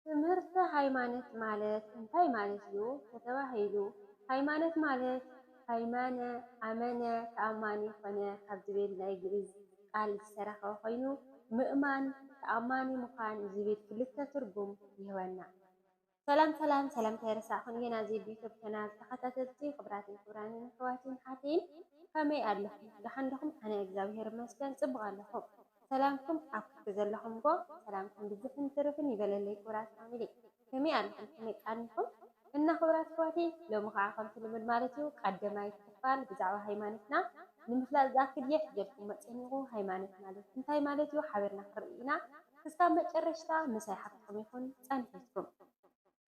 ትምህርተ ሃይማነት ማለት እንታይ ማለት እዩ ተተባሂሉ ሃይማነት ማለት ሃይማነ ኣመነ ተኣማኒ ኮነ ካብ ዝብል ናይ ግእዝ ቃል ዝተረኸበ ኮይኑ ምእማን ተኣማኒ ምዃን ዝብል ክልተ ትርጉም ይህበና። ሰላም ሰላም ሰላምታ ኣይረሳዕኩን የና ዜዱ ዩቱብ ቻናል ተከታተልቲ ክብራትን ክብራንን ኣሕዋትን ኣሓትን ከመይ ኣለኹም ደሓን ድኹም ኣነ እግዚኣብሔር ይመስገን ፅቡቅ ኣለኹ። ሰላምኩም ኣብ ኩሉ ዘለኹምዎ ሰላምኩም ብዝሕን ትርፍን ይበለለይ ክብራት ፋሚሊ ከመይ ኣለኹም ከመይ ቃኒኹም እና ክብራት ኣሕዋተይ ሎሚ ኻዓ ከምቲ ልሙድ ማለት እዩ ቃደማይ ክፋል ብዛዕባ ሃይማነትና ንምፍላጥ ዝኣክል እየ ሒዘልኩሞ ጼኒኹ ሃይማነት ማለት እንታይ ማለት እዩ ሓቢርና ክንርኢ ኢና ክሳብ መጨረሽታ ምሳይ ሓፍትኹም ይኹን ጸንሒትኩም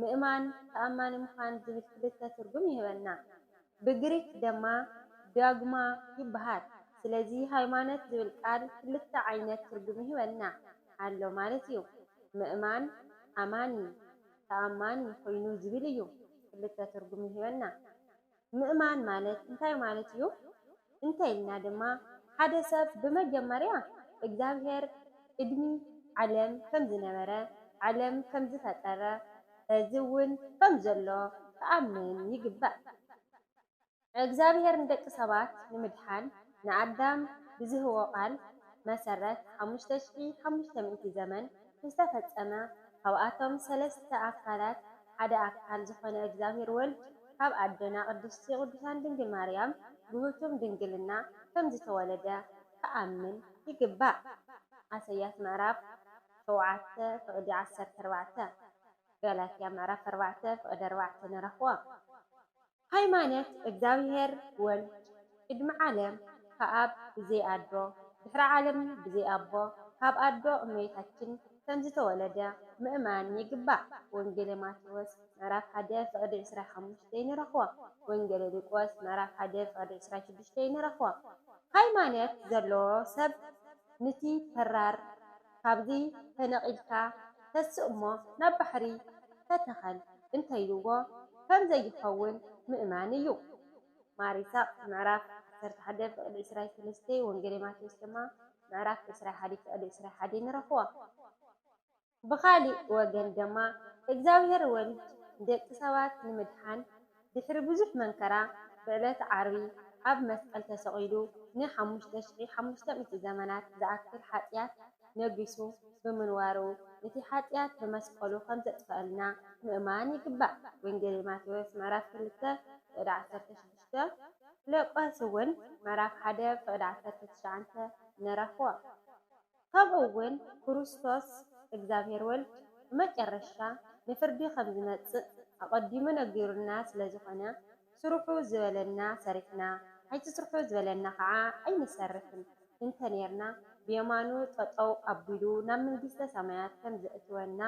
ምእማን፣ ተኣማኒ ምዃን ዝብል ክልተ ትርጉም ይህበና። ብግሪክ ደማ ዶግማ ይበሃል። ስለዚ ሃይማኖት ዝብል ቃል ክልተ ዓይነት ትርጉም ይህበና ኣሎ ማለት እዩ። ምእማን፣ ኣማኒ፣ ተኣማኒ ኮይኑ ዝብል እዩ ክልተ ትርጉም ይህበና። ምእማን ማለት እንታይ ማለት እዩ እንተ ኢልና ድማ፣ ሓደ ሰብ ብመጀመርያ እግዝኣብሄር ቅድሚ ዓለም ከም ዝነበረ፣ ዓለም ከም ዝፈጠረ፣ ሕዚ እውን ከም ዘሎ ክኣምን ይግባእ። እግዝኣብሄር ንደቂ ሰባት ንምድሓን ንኣዳም ብዝህቦ ቃል መሰረት ሓሙሽተ ሽሕ ሓሙሽተ ሚእቲ ዘመን ዝተፈጸመ ካብኣቶም ሰለስተ ኣካላት፣ ሓደ ኣካል ዝኾነ እግዚኣብሔር ወልድ ካብ ኣደና ቅድስቲ ቅዱሳን ድንግል ማርያም ብህቱም ድንግልና ከም ዝተወለደ ክኣምን ይግባእ ኣሰያት ምዕራፍ ሸውዓተ ፍቅዲ ዓሰርተ ኣርባዕተ ገላትያ ምዕራፍ ኣርባዕተ ፍቅዲ ኣርባዕተ ንረኽቦ። ሃይማነት እግዚኣብሔር ወልድ ቅድሚ ዓለም ከኣብ ብዘይ ኣዶ ድሕሪ ዓለም ብዘይ ኣቦ ካብ ኣዶ እመቤታችን ከምዝተወለደ ምእማን ይግባእ ወንጌለ ማቴዎስ ምዕራፍ ሓደ ፍቅዲ ዕስራይ ሓሙሽተይ ንረኽቦ ወንጌለ ሊቆስ ምዕራፍ ሓደ ፍቅዲ ዕስራይ ሽዱሽተይ ንረኽቦ ሃይማነት ዘለዎ ሰብ ንቲ ተራር ካብዚ ተነቒልካ ተስእ'ሞ ናብ ባሕሪ ተተኸል እንተኢሉዎ ከም ዘይኸውን ምእማን እዩ። ማር ይስሃቅ ምዕራፍ ዓሰርተ ሓደ ፍቅዲ ዕስራይ ሰለስተ ወንጌሌ ማቴዎስ ድማ ምዕራፍ ዕስራይ ሓዲ ፍቅዲ ዕስራይ ሓዲ ንረኽቦ። ብኻሊእ ወገን ድማ እግዚኣብሔር ወልድ ንደቂ ሰባት ንምድሓን፣ ድሕሪ ብዙሕ መንከራ ብዕለት ዓርቢ ኣብ መስቀል ተሰቒሉ ን ሓሙሽተ ሽሕ ሓሙሽተ ሚእቲ ዘመናት ዝኣክል ሓጥያት ነጊሱ ብምንዋሩ እቲ ሓጥያት ብመስቀሉ ከምዘጥፈኣልና ምእማን ይግባእ። ወንጌል ማቴዎስ ምዕራፍ ክልተ ፍቕዲ ዓሰርተ ሽዱሽተ። ፊለቆስ እውን ምዕራፍ ሓደ ፍቕዲ ዓሰርተ ትሽዓንተ ንረኽቦ። ካብኡ እውን ክርስቶስ፣ እግዚኣብሔር ወልድ፣ ብመጨረሻ ንፍርዲ ከም ዝመጽእ ኣቐዲሙ ነጊሩና ስለ ዝኾነ፣ ስርሑ ዝበለና ሰሪሕና፣ ኣይትስርሑ ዝበለና ኸዓ ኣይንሰርሕን እንተ ኔርና፣ ብየማኑ ጠጠው ኣቢሉ ናብ መንግስተ ሰማያት ከም ዘእትወና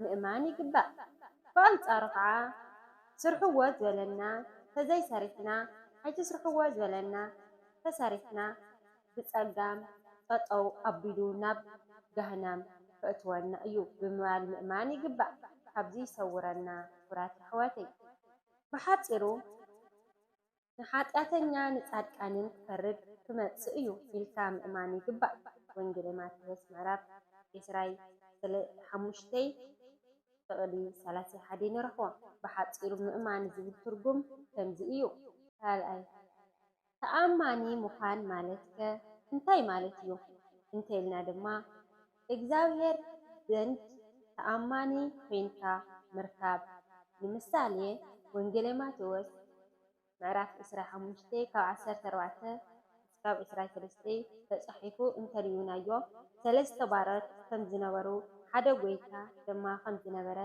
ምእማን ይግባእ። ብኣንጻሩ ኸዓ ስርሕዎ ዝበለና ተዘይሰሪሕና፣ ኣይትስርሕዎ ዝበለና ተሰሪሕና፣ ብጸጋም ጠጠው ኣቢሉ ናብ ጋህናም ከእትወና እዩ ብምባል ምእማን ይግባእ ካብዚ ይሰውረና ክብራት የሕዋተይ ብሓጺሩ ንሓጥያተኛ ንጻድቃንን ክፈርድ ክመጽእ እዩ ኢልካ ምእማን ይግባእ ወንጌለ ማቴዎስ ምዕራፍ ዕስራይ ስለ ሓሙሽተይ ጥቅሊ ሰላሳይ ሓደይ ንረኽቦ ብሓጺሩ ምእማን ዝብል ትርጉም ከምዚ እዩ ካልኣይ ተኣማኒ ምዃን ማለትከ እንታይ ማለት እዩ እንተኢልና ድማ፣ እግዚኣብሄር ዘንድ ተኣማኒ ኮይንካ ምርካብ። ንምሳሌ ወንጌለ ማቴዎስ ምዕራፍ ዕስራን ሓሙሽተን ካብ ዓሰርተ ኣርባዕተ ክሳብ ዕስራን ሰለስተን ተጻሒፉ እንተርኢናዮ፣ ሰለስተ ባሮት ከም ዝነበሩ፣ ሓደ ጎይታ ድማ ከም ዝነበረ፣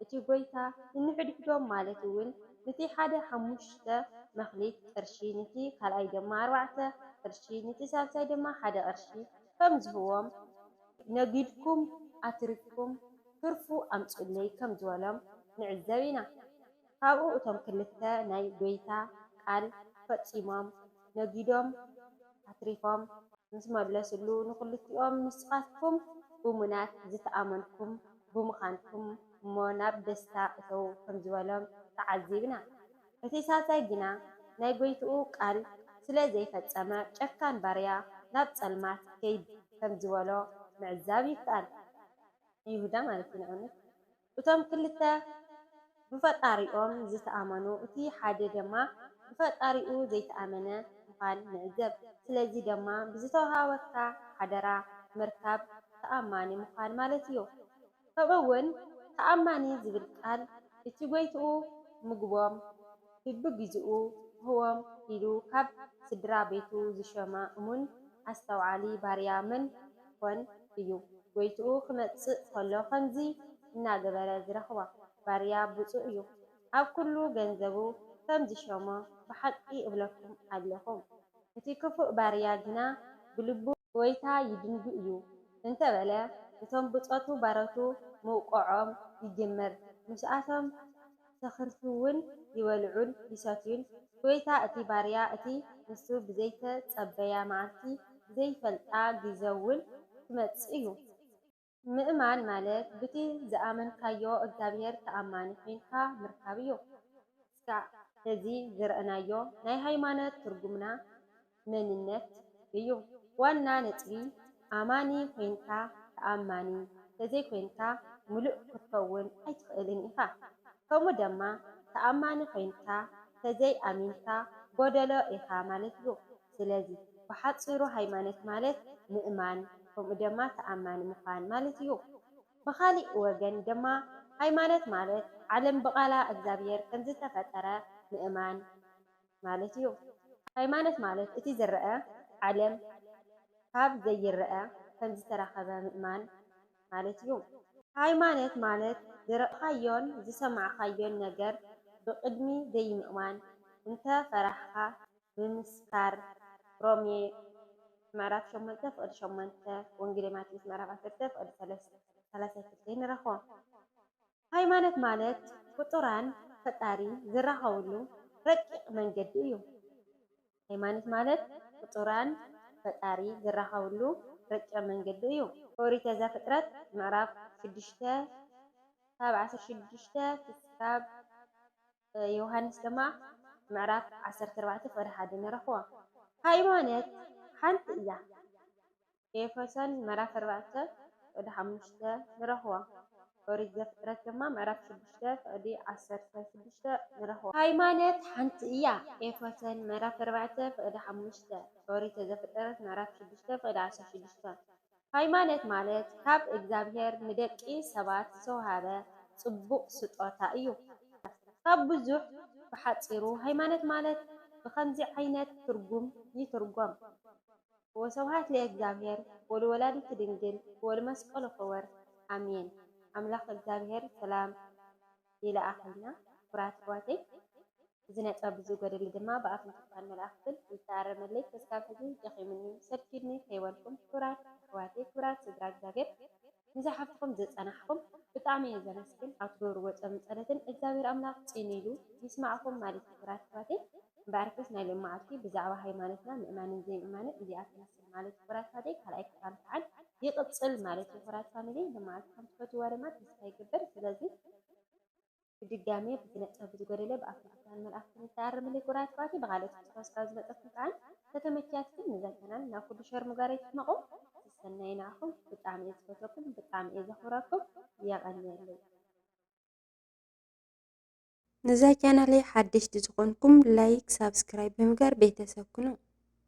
እቲ ጐይታ ንንሕድሕዶም ማለት እውን ኑቲ ሓደ ሓሙሽተ መክሊት ቅርሺ ኑቲ ካልኣይ ድማ ኣርባዕተ ቅርሺ ኑቲ ሳልሳይ ድማ ሓደ ቅርሺ ከም ዝህብዎም ነጊድኩም ኣትሪፍኩም ትርፉ ኣምጽኡለይ ከም ዝበሎም ንዕዘብ ኢና። ካብኡ እቶም ክልተ ናይ ጐይታ ቃል ፈጺሞም ነጊዶም ኣትሪፎም ምስ መለስሉ ንክልቲኦም ንስኻትኩም እሙናት ዝተኣመንኩም፣ ብምኻንኩም እሞ ናብ ደስታ እተዉ ከም ዝበሎም ተዓዚብና። እቲ ሳልሳይ ግና ናይ ጎይትኡ ቃል ስለ ዘይፈጸመ ጨካን ባርያ ናብ ጸልማት ከይድ ከም ዝበሎ ምዕዛብ ይከኣል። ይሁዳ ማለት እዩ ንኣብነት እቶም ክልተ። ብፈጣሪኦም ዝተኣመኑ እቲ ሓደ ደማ ብፈጣሪኡ ዘይተኣመነ ምዃን ንዕዘብ ስለዚ ደማ ብዝተወሃበካ ሓደራ ምርካብ ተኣማኒ ምዃን ማለት እዩ ከምኡ ውን ተኣማኒ ዝብል ቃል እቲ ጎይትኡ ምግቦም ብብግዜኡ ክህቦም ኢሉ ካብ ስድራ ቤቱ ዝሸማ እሙን ኣስተውዓሊ ባርያ መን ኾን እዩ? ጎይትኡ ክመጽእ ከሎ ከምዚ እናገበረ ዝረኽቦ ባርያ ብጹእ እዩ። ኣብ ኩሉ ገንዘቡ ከም ዝሸሞ ብሓቂ እብለኩም ኣሎኹ። እቲ ክፉእ ባርያ ግና ብልቡ። ጎይታ ይድንጉ እዩ እንተ በለ፣ እቶም ብጾቱ ባሮቱ ምውቃዖም ይጅምር። ምስኣቶም። ዘኽርፍውን ይበልዑን ይሰትዩን። ጎይታ እቲ ባርያ እቲ ንሱ ብዘይተጸበያ መዓልቲ ብዘይፈልጣ ግዘውን ክመጽእ እዩ። ምእማን ማለት ብቲ ዝኣመንካዮ እግዚኣብሔር ተኣማኒ ኮይንካ ምርካብ እዩ። እስካዕ ሕዚ ዝረእናዮ ናይ ሃይማኖት ትርጉምና መንነት እዩ ዋና ነጥቢ ኣማኒ ኮይንካ ተኣማኒ ተዘይኮይንካ ምሉእ ክትከውን ኣይትክእልን ኢካ ከምኡ ደማ ተኣማኒ ኮይንካ ተዘይ ኣሚንካ ጎደሎ ኢካ ማለት እዩ ስለዚ ብሓጺሩ ሃይማነት ማለት ምእማን ከምኡ ደማ ተኣማኒ ምኳን ማለት እዩ ብካሊእ ወገን ደማ ሃይማነት ማለት ዓለም ብቃላ እግዛብሄር ከምዝተፈጠረ ምእማን ማለት እዩ። ሃይማኖት ማለት እቲ ዝረኣ ዓለም ካብ ዘይረኣ ከም ዝተረኸበ ምእማን ማለት እዩ። ሃይማኖት ማለት ዝረኣኻዮን ዝሰማዕኻዮን ነገር ብቕድሚ ዘይምእማን እንተ ፈራሕኻ ምምስካር ሮሜ ምዕራፍ ሸሞንተ ፍቕዲ ሸሞንተ ወንጌሌ ማቴዎስ ምዕራፍ ዓሰርተ ፍቕዲ ሰላሳይ ክልተ ንረኽቦ። ሃይማኖት ማለት ፍጡራን ፈጣሪ ዝራኸብሉ ረቂቕ መንገዲ እዩ። ሃይማኖት ማለት ፍጡራን ፈጣሪ ዝራኸብሉ ረቂቕ መንገዲ እዩ። ኦሪተ ዘፍጥረት ምዕራፍ ሽዱሽተ ካብ ዓሰርተ ሽዱሽተ ክሳብ ዮውሃንስ ድማ ምዕራፍ ዓሰርተ ኣርባዕተ ፍቕዲ ሓደ ንረኽቦ። ሃይማኖት ሓንቲ እያ። ኤፌሶን ምዕራፍ ኣርባዕተ ፍቕዲ ሓሙሽተ ንረኽቦ። ኦሪት ዘፍጥረት ድማ ምዕራፍ ሽዱሽተ ፍቕዲ ዓሰርተ ሽዱሽተ ንረኽቦ። ሃይማኖት ሓንቲ እያ። ኤፌሶን ምዕራፍ ኣርባዕተ ፍቕዲ ሓሙሽተ፣ ኦሪት ዘፍጥረት ምዕራፍ ሽዱሽተ ፍቕዲ ዓሰርተ ሽዱሽተ። ሃይማኖት ማለት ካብ እግዚኣብሄር ንደቂ ሰባት ዝተውሃበ ጽቡቕ ስጦታ እዩ። ካብ ብዙሕ ብሓጺሩ ሃይማኖት ማለት ብኸምዚ ዓይነት ትርጉም ይትርጎም። ወሰብሃት ለእግዚኣብሔር ወልወላዲቱ ድንግል ወልመስቀሉ ክቡር ኣሜን ኣምላክ እግዚኣብሔር ሰላም ይልኣከልና ክቡራት ኣሕዋተይ እዚ ነጥበ ብዙ ጎደለ ድማ ብኣፍን ትካን መላእክትን ይተኣረመለይ ክስካብ ሕዚ ደኪሙኒ ሰልችዩኒ ከይበልኩም ክቡራት ኣሕዋተይ ክቡራት ስድራ እግዚኣብሔር ነዛ ሓፍትኩም ዘጸናሕኩም ብጣዕሚ እየ ዘመስግን ኣብ ትገብርዎ ጾምን ጸሎትን እግዚኣብሔር ኣምላክ ጺን ኢሉ ይስማዕኩም ማለት እዩ ክብራት ኣሕዋተይ እምበኣርከስ ናይ ሎምዓልቲ ብዛዕባ ሃይማኖትና ምእማንን ዘይምእማንን እዚኣ ትመስል ማለት እዩ ክብራት ኣሕዋተይ ካልኣይ ክፋል ካዓ ይቅጽል ማለት እዩ ክብራት ፋሚሊ ሎምዓልቲ ከምትፈትውዋ ድማ ተስፋ ይገብር ስለዚ ብድጋሜ ብዝነጸፍ ብዝጎደለ ብኣፍልጦታን መልኣኽትን ዝተኣረመለይ ጉራያት ኳቲ ብኻልኦት ክትሕወስ ካብ ዝመጠፍኩም ከኣን ተተመኪያትኩም ንዘተናን ናብ ኩሉ ሸር ምጓር ኣይትሕመቁ ስሰናዩ ንዓኹም ብጣዕሚ እየ ዝፈትወኩም ብጣዕሚ እየ ዘኽብረኩም የቀንየለይ። ንዛ ቻናለይ ሓደሽቲ ዝኾንኩም ላይክ ሳብስክራይብ ብምግባር ቤተሰብ ኩኑ።